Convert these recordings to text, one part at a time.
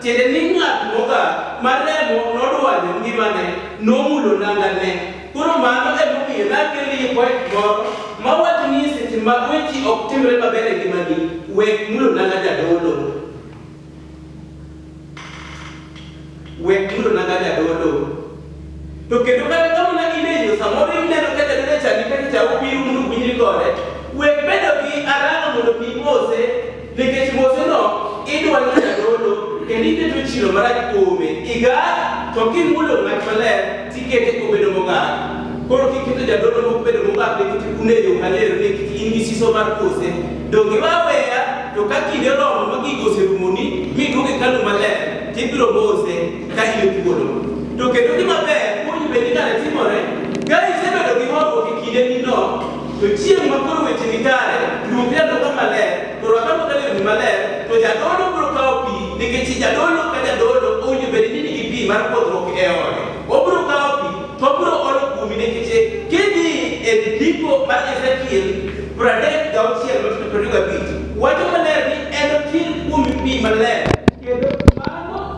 Tiende ni ng'at mogak ma remo nodwanyo ngimane nomulo nangane. Koro mano e momiyo nakelie poet moro ma wacho ni e seche ma wechi ok timre maber e ngimani, wek mulo nanga jadolo. Wek mulo nanga jadolo. To kendo kata ka mana in e yo samoro ineno ka jaduong' e chadi kata cha obiro mondo uwinjri kode, we bedo gi aranga mondo mi imose nikech moseno idwaro ni jadolo kendo iketo chilo marach kuome. Igak to kimulo ng'at maler tikete obedo mogak. Koro kiketo jadolo mok bedo mogak nikech un e yo maler ni kik in gi siso mar kose. Donge iwe aweya to ka kinde oromo ma gigo oserumoni miduogo e hekalu maler tibiro mose. ka in e thuolo. To kendo gima ber kuonyi bende kare timore, ka isebedo gi horuok e kinde nino, to chieng' ma koro weche ni kare, luong jadolo maler, to rwak aruaka lewni maler, to jadolo biro kawo pi, nikech jadolo ka jadolo owinjo bed ni nigi pi mar pwodhruok e ode. Obiro kawo pi, to obiro olo kuomi nikech kidhi e ndiko mar Ezekiel pradek gauchiel matindo prariyo gabich, wacho maler ni enokir kuomi pi maler, kendo mano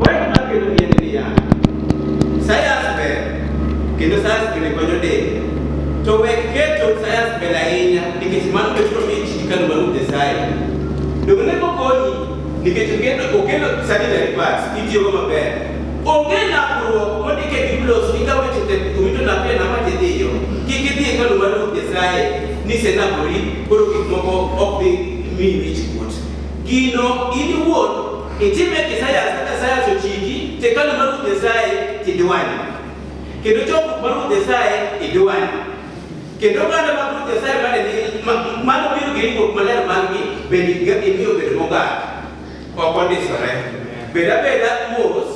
Wach makelo ni en niya, sayans ber kendo sayans bende konyo del. To wek keto sayans ber ahinya nikech mano be biro miyo ji kano maluw Nyasaye. Donge ne okonyi nikech okelo okelo sanitary pads itiyogo maber. Onge nakruok mondik e Biblos ni ka weche tek to wito napia na mach idhiyo. Kik idhi e kano mar Ruoth Nyasaye ni senapori koro gik moko ok dhi miyi wich kuot. Gino in iwuon Kitime kisayas kaka sayas ochiki to ekalo mar Ruoth Nyasaye tidwanye. Kendo chokruok mar Ruoth Nyasaye idwanye. Kendo oganda mag Ruoth Nyasaye mane nigi ma- mano biro gi ringruok maler margi bende ga- imiyo bedo mogak. Ok ondisore. Bed abeda mos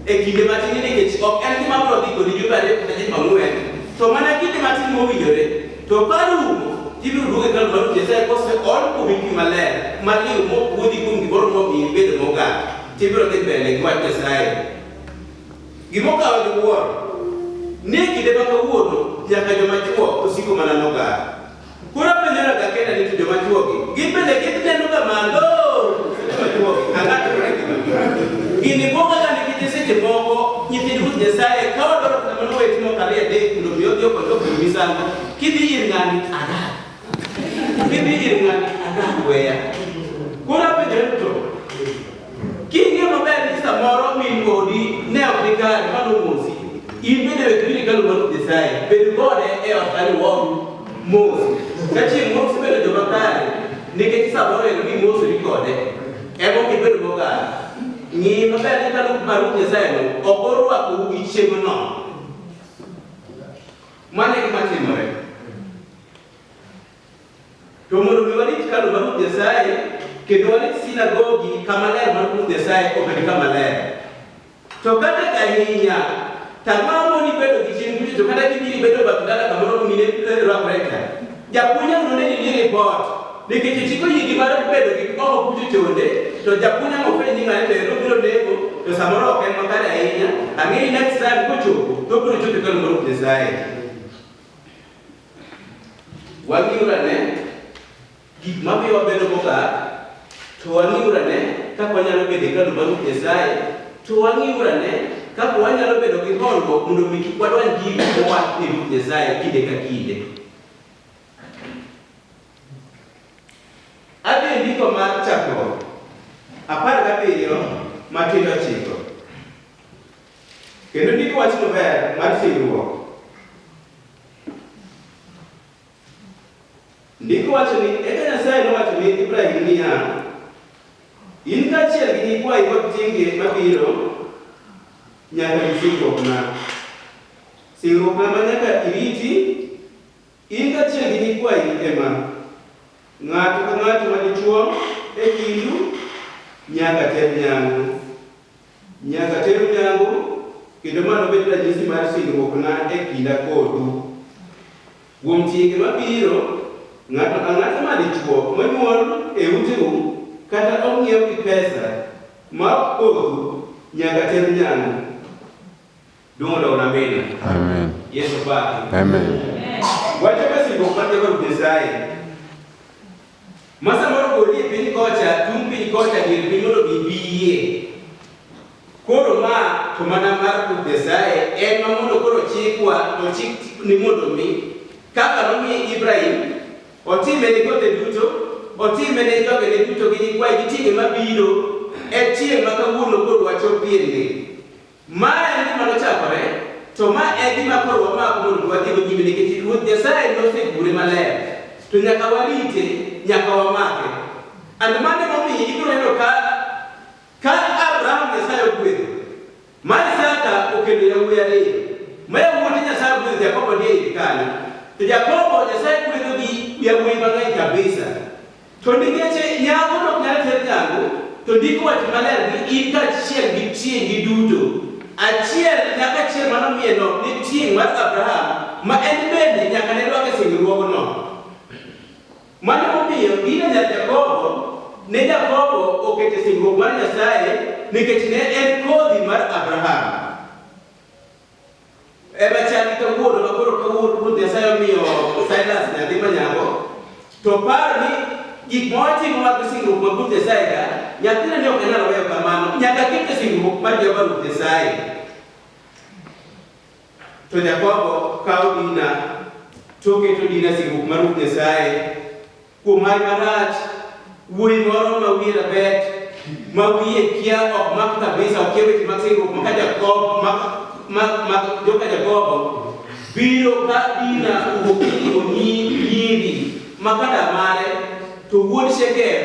e kinde matin nikech ok en gima biro dhi kodi jumbe ariyo kata jumbe ang'wen, to mana kinde matin mowinjore To ka rumo, ibiro duog e kal mar Nyasaye kose ol kuomi pi maler mar liw mopuodhi kuom gimoro momiyo ibedo mogak, tibiro dhi mbele gi wach Nyasaye. Gimokawa gi wuoro, ni e kinde ma kawuono nyaka joma chwo osiko mana nogar. Koro apenjoraga kenda ni to joma chwogi, gin bende ginenoga malo seche ma chwogi ang'atore gi gini bwogaga nikech seche moko Nyithind Ruoth Nyasaye ka wadwaro kata mano weyo timo kare adek mondo mi odhi okony ok bedo misango kidhi ir ng'ani adak kidhi ir ng'ani adak weya koro apenjore to king'e maber ni samoro min odi ne ok ni kare mano mosi in bende we kiri kalo mar Nyasaye bed kode e ot kani wom mos ka chieng' mos bedo joma kare nikech samoro en ni mos ni kode emo gibedo mogara Ng'i maber ni ka Ruoth mar Ruoth Nyasayeno ok orwakou gi chieng'no. Mano e gima timore. To mondo mi warit hekalu mar Ruoth Nyasaye kendo warit sinagogi kama ler mar Ruoth Nyasaye obed kama ler. To kata ka ahinya, tang'waro moni bedo gi chieng' duto, to kata kibiri bedo bath dala kamoro mine rwakoreka, Japuonjre onego ne ni nie ripot nikech ichiko yigi mar bedo gi oho buti tonde to japuonjre no fwenyo ni ng'ani to en obiro lego to samoro ok en makare ahinya ang'e ni next time kochopo to obiro chopo kalo mar Nyasaye. Wang'iuru ane gik mamiyo wabedo mogak to wang'iuru ane kaka wanyalo bedo kalo mar Nyasaye to wang'iuru ane kaka wanyalo bedo gi horuok mondo mi kik wadwany gik mowach ni Ruoth Nyasaye kinde ka kinde. Adhi e ndiko mar chakruok apar gabiriyo matindo ochiko kendo ndiko wachno ber mar singruok. Ndiko wacho ni eka Nyasaye nowacho ni Ibrahim niya, in kaachiel gi nyikwayi kod tienge mabiro nyaka gi singruokna. Singruokna ma nyaka iriti, in kaachiel gi nyikwayi e ma, Ng'ato ka ng'ato ma dichwo e kindu nyaka ter nyangu. Nyaka teru nyangu, kendo ma nobed ranyisi mar singruokna e kinda kodu. Kuom tienge mabiro, ng'ato ang'ata ma dichwo monyuol e uteu kata ong'iew gi pesa ma ok kodhu nyaka ter nyangu. Dumo da una mena. Amen. Yesu pa. Amen. Wacho ka singo kwa Jehova Nyasaye. Masa moro goli e piny kocha, tung' piny kocha dier piny mondo gibiyie. Koro ma to mana mar Ruoth Nyasaye en ma mondo koro chikwa ochik ni mondo mi kaka nomiye Ibrahim otime ne kothe duto, otime ne jogene duto gi nyikwaye gi tienge mabiro, e chieng' ma kawuono koro wachopie ni Ma en gima nochakore, to ma e gima koro wamako mondo wadhigo nyime nikech Ruoth Nyasaye nosegure maler, to nyaka warite, nyaka wamake. And mano emomiyo ibiro neno ka ka Abraham Nyasaye ogwedho, ma Isaka okendo yawuoyi ariyo, ma yawuote Nyasaye ogwedho Jakobo ni e iye kanyo, to Jakobo Nyasaye gwedho gi yawuoyi mang'eny kabisa. To nikeche nyako nok nyal ter nyangu, to ndiko wacho maler ni in kaachiel gi tieng'i duto, achiel nyaka achiel mano miye nok ne tieng' mar Abraham, ma en bende nyaka ne rwak e singruogno. Mano emomiyo Dina nyar Jakobo ne Jakobo oket e singruok mar Nyasaye nikech ne en kodhi mar Abraham. Ema chal gi kawuono ma koro kawuono Ruoth Nyasaye omiyo Silas nyathi ma nyako, to par ni gik ma watimo mag singruok ma Ruoth Nyasaye ka, nyathina ni ok anyal weyo kamano, nyaka kete singruok mar Jehova Ruoth Nyasaye. To Jakobo kawo Dina, to oketo Dina singruok mar Ruoth Nyasaye, Kuom mar marach, wuoyi moro ma wiye rabet, ma wiye kia ok mak kabisa, okia weche mag singruok maka Jakobo, ma joka Jakobo, biro ka Dina owuok ni onyi nyiri ma kada mare, to wuod Shekem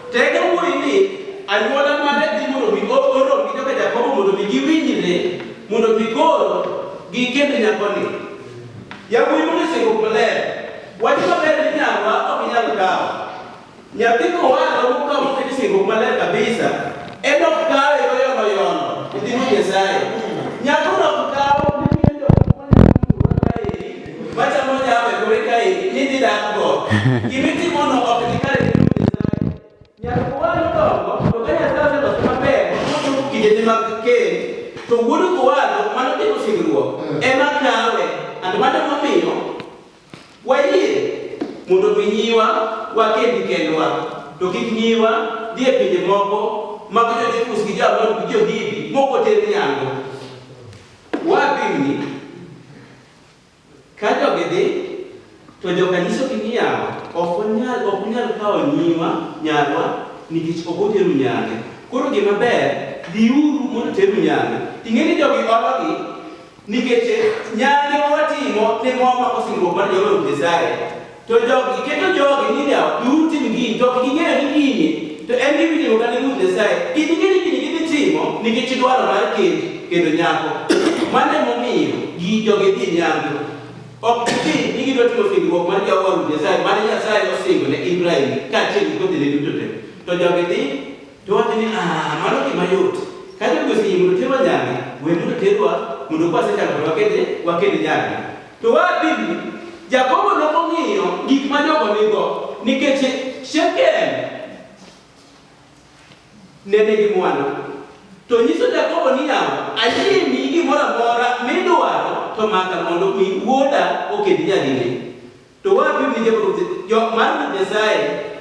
Tego wuoyi ni anyuola mare dhi mondo mi orom gi joka Jakobo mondo mi giwinjre mondo mi koro gikend nyakoni. Yawuoyi mondo osiko maler wach maber ni nyarwa ok inyal kawo. Nyathi kowalo mokawo moket e singruok maler kabisa en ok kawe oyono yono e nyim Nyasaye. Nyakono ok kawo nikech jomoko nyalo luwa kaeri Machamo nyama e kore kae, nidhi dak go. Gima itimono ok ni kare ne Ruoth Nyasaye. Nyaka kowal odongo, to ka Nyasaye oseloso maber, mochopo kindene mag kend, to wuod kowalo mano timo singruok, ema kawe. And mano emomiyo wayie mondo mi nyiwa wakendi kendwa, to kik nyiwa dhi e pinje moko mag jo-Jebus gi jo-Amon gi jo-Hivi mok oter nyangu. Wapimni Ka jogi dhi, to joka nyisogi ni yawa, ok wanyal, ok unyal kawo nyiwa, nyarwa, nikech ok oteru nyange. Koro gima ber, dhiuru mondo teru nyange. Ing'e ni jogi ologi, nikech nyange ma watimo ne mwa mako singruok mar Jehova Ruoth Nyasaye, To jogi keto jogi ni ne ok giutim gini, to ok ging'eyo ni gini, to en gima itimo kata ni Ruoth Nyasaye. Gini gini gini gidhi timo nikech dwaro mar kend kendo nyako. Mano emomiyo gi jogi dhi nyangu. Ok gidhi ni gidwa timo singruok mar Jehova Ruoth Nyasaye, mane Nyasaye osingo ne Ibrahim kaachiel gi kodhine duto te. To jogi dhi To wacho ni, Ah, mano gima yot. Ka jogi oseyie mondo terwa nyange, we mondo terwa mondo kwa sechako mondo wakete wakete nyange. To wa pili, Jakobo ne ong'iyo gik ma jogo nigo nikech Shekem ne nigi mwandu. To nyiso Jakobo ni yawa, ayini gimoro amora midwaro to maka mondo mi wuoda oked nyadine. To wapi winjo Ruoth? Jo mar Ruoth Nyasaye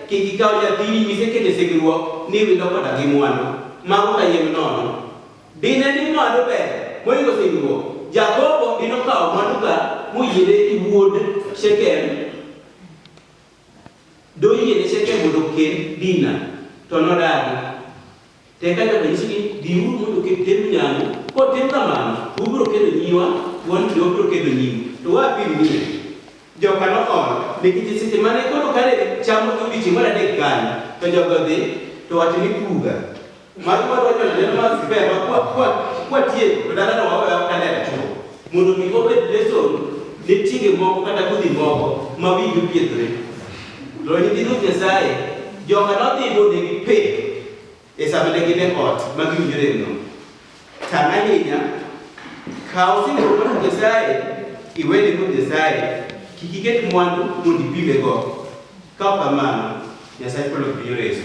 kik ikaw nyathini misekete singruok ni wilo koda gi mwandu mago kayiem nono. Dine ni mwandu ber moingo singruok, Jakobo dine okawo mwanduka moyiene gi wuod Shekem, doyiene Shekem mondo okend Dina, to nodagi. Tek ka ng'ato nyiso ni biuru mondo oket temb nyangu, kotim kamano, to ubiro kedo nyiwa, to wan bende wabiro kedo nyiu. To wa apim ni e. Joka no ol, nikech e seche mane koro kare cham oke odiochieng' mar adek kanyo, to jogo odhi, to wacho ni puga. Mago ma dwa nyono neno mar spare ma kwa, kwa, kwatieko, to dala no wawe awa kalera chuo. Mondo mi obed lesson ne tienge moko kata kodhi moko ma wigi opiedhore. To nyithind Ruoth Nyasaye, joka nodhi monegi pep e sama ne gin e ot ma giwinjo remno. Tang' ahinya, kaw singruok mar Ruoth Nyasaye iwene Ruoth Nyasaye, kik iket mwandu mondo ipimego. Ka ok kamano, Nyasach polo ok bi reso.